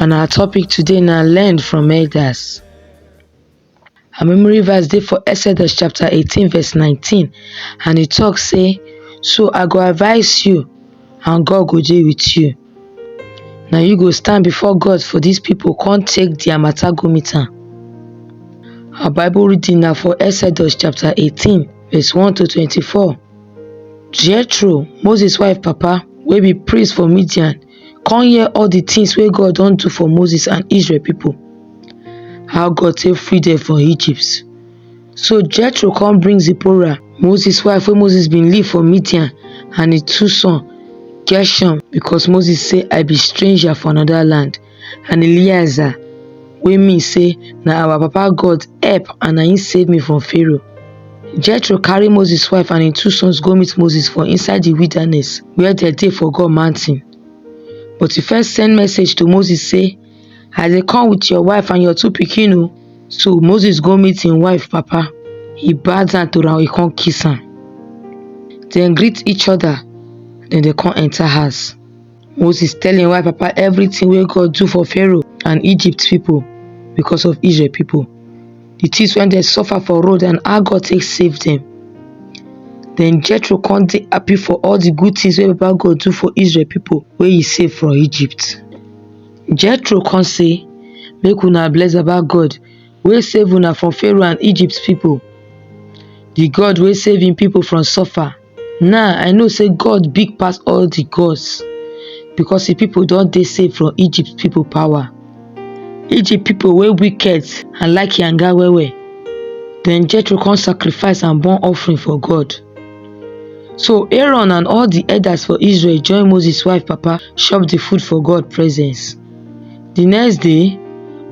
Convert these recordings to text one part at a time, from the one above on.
And our topic today now learn from elders. Our memory verse dey for Exodus chapter 18 verse 19 and e talk say, So I go advise you and God go dey with you. Now you go stand before God for these people, come take their matter go meet am. Our Bible reading now for Exodus chapter 18 verse 1 to 24. Jethro, Moses wife papa, wey be priest for Midian, con hear all the things wey God don do for Moses and Israel people, how God take free them from Egypt. So Jethro come bring Zipporah, Moses wife wey Moses been leave for Midian and his two sons, Gershom because Moses say I be stranger for another land and Eleazar wey mean say na our papa God help and na him save me from Pharaoh. Jethro carry Moses wife and im two sons go meet Moses for inside the wilderness where they dey for God mountain. But he first send message to Moses say, I dey come with your wife and your two pikin o. Oh. So Moses go meet him wife papa. He bow down to am, he come kiss am. Then greet each other, then they come enter house. Moses tell him wife papa everything wey God do for Pharaoh and Egypt people because of Israel people. The things when they suffer for road and how God take save them. Then Jethro come dey happy for all the good things wey Papa God do for Israel people wey he save from Egypt. Jethro come say, make una bless Baba God wey save una from Pharaoh and Egypt people, the God wey save him people from suffer. Now I know say God big pass all the gods because the people don dey safe from Egypt people power. Egypt people wey wicked and like yanga well well. Then Jethro come sacrifice and burn offering for God. So Aaron and all the elders for Israel join Moses wife papa chop the food for God presence. The next day,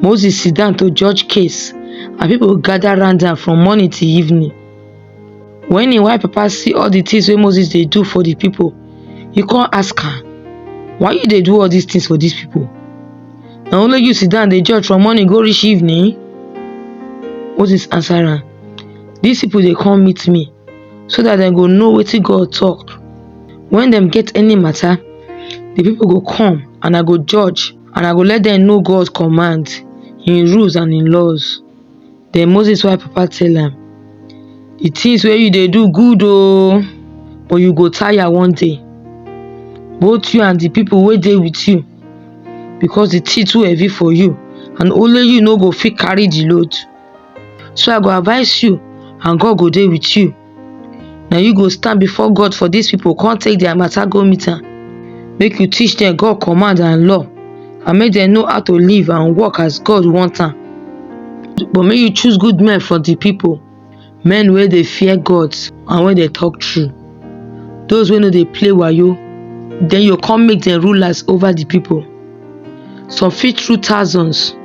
Moses sit down to judge case and people gather round am from morning till evening. When him white papa see all the things wey Moses dey do for the people, he come ask am, why you dey do all these things for these people? Na only you sit down dey judge from morning go reach evening? Moses answer am, these people dey come meet me so that dem go know wetin God talk. When dem get any matter, the people go come and I go judge and I go let them know God command, him rules and him laws. Den Moses wife papa tell am, di tins wey you dey do good o but you go tire one day, both you and di pipu wey dey wit you because di tin too heavy for you and only you no go fit carry di load. So I go advice you and God go dey wit you. na you go stand before god for dis pipo come take dia mata go meet am make you teach dem god command and law and make dem know how to live and work as god want am but make you choose good men for di pipo men wey dey fear god and wey dey talk true those wey no dey play wayo den you come make dem rulers over di pipo some fit rule thousands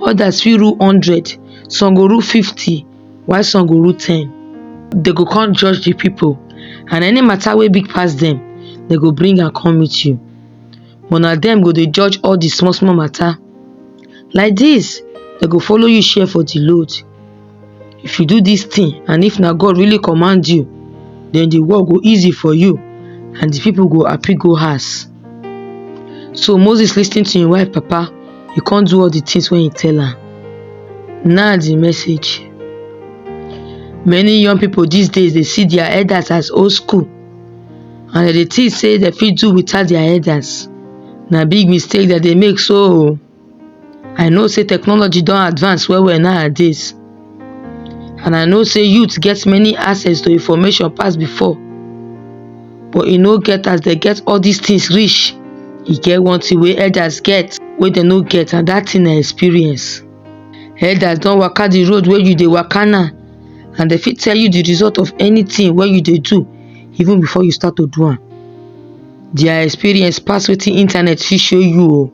others fit rule hundred some go rule fifty while some go rule ten Dem go come judge the people and any matter wey big pass dem dem go bring am come meet you but na dem go dey judge all the small small matter like this dem go follow you share for the load if you do this thing and if na God really command you then the work go easy for you and the people go happy go house So Moses lis ten to im wife papa, e come do all the things wey he tell am. Now the message. Many young people these days dey see their elders as old school and dem dey think say dem fit do without their elders. Na big mistake dem dey make so o. I know say technology don advance well well nowadays and I know say youth get many access to information pass before but e no get as dem get all these things reach e get one thing wey elders get wey dem no get and that thing na experience elders don waka the road wey you dey waka now and dem fit tell you the result of anything wey you dey do even before you start to do am their experience pass wetin internet fit show you o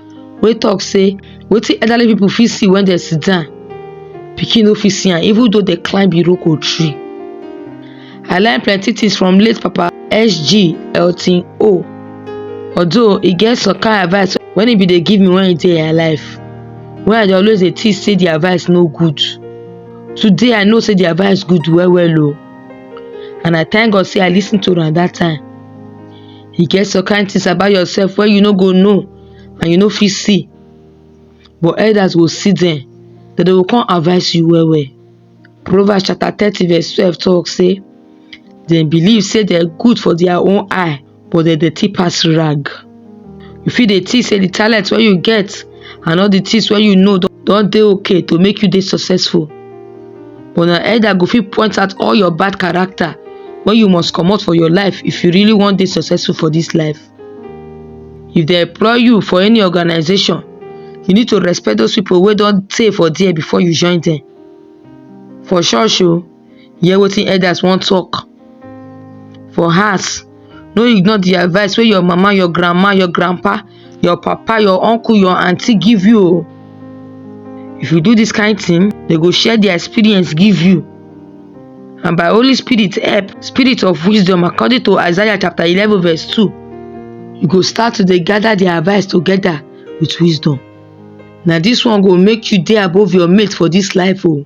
wey talk say wetin elderly people fit see when dem sit down, pikin no fit see am even though dem climb Iroko tree. I learn plenty things from late Papa SG Elton O. Although e get some kind advice when e bin dey give me when e dey im life, wey I dey always dey think say the advice no good. Today I know say the advice good well well o and I thank God say I lis ten to am that time. e get some kind things about yourself wey you no go know and you no fit see but elders go see them dem go come advise you well well proverbs chapter thirty verse twelve talk say dem believe say dem good for their own eye but dem dirty pass rag you fit dey think say the talent wey you get and all the things wey you know don dey okay to make you dey successful but na elder go fit point out all your bad character wey you must comot for your life if you really wan dey successful for this life if they employ you for any organization you need to respect those people wey don tey for there before you join them for church o hear wetin elders wan talk for house no ignore the advice wey your mama your grandma your grandpa your papa your uncle your aunty give you o if you do this kind thing they go share their experience give you and by holy spirit help spirit of wisdom according to isaiah chapter eleven verse two you go start to dey gather their advice together with wisdom na this one go make you dey above your mate for this life o.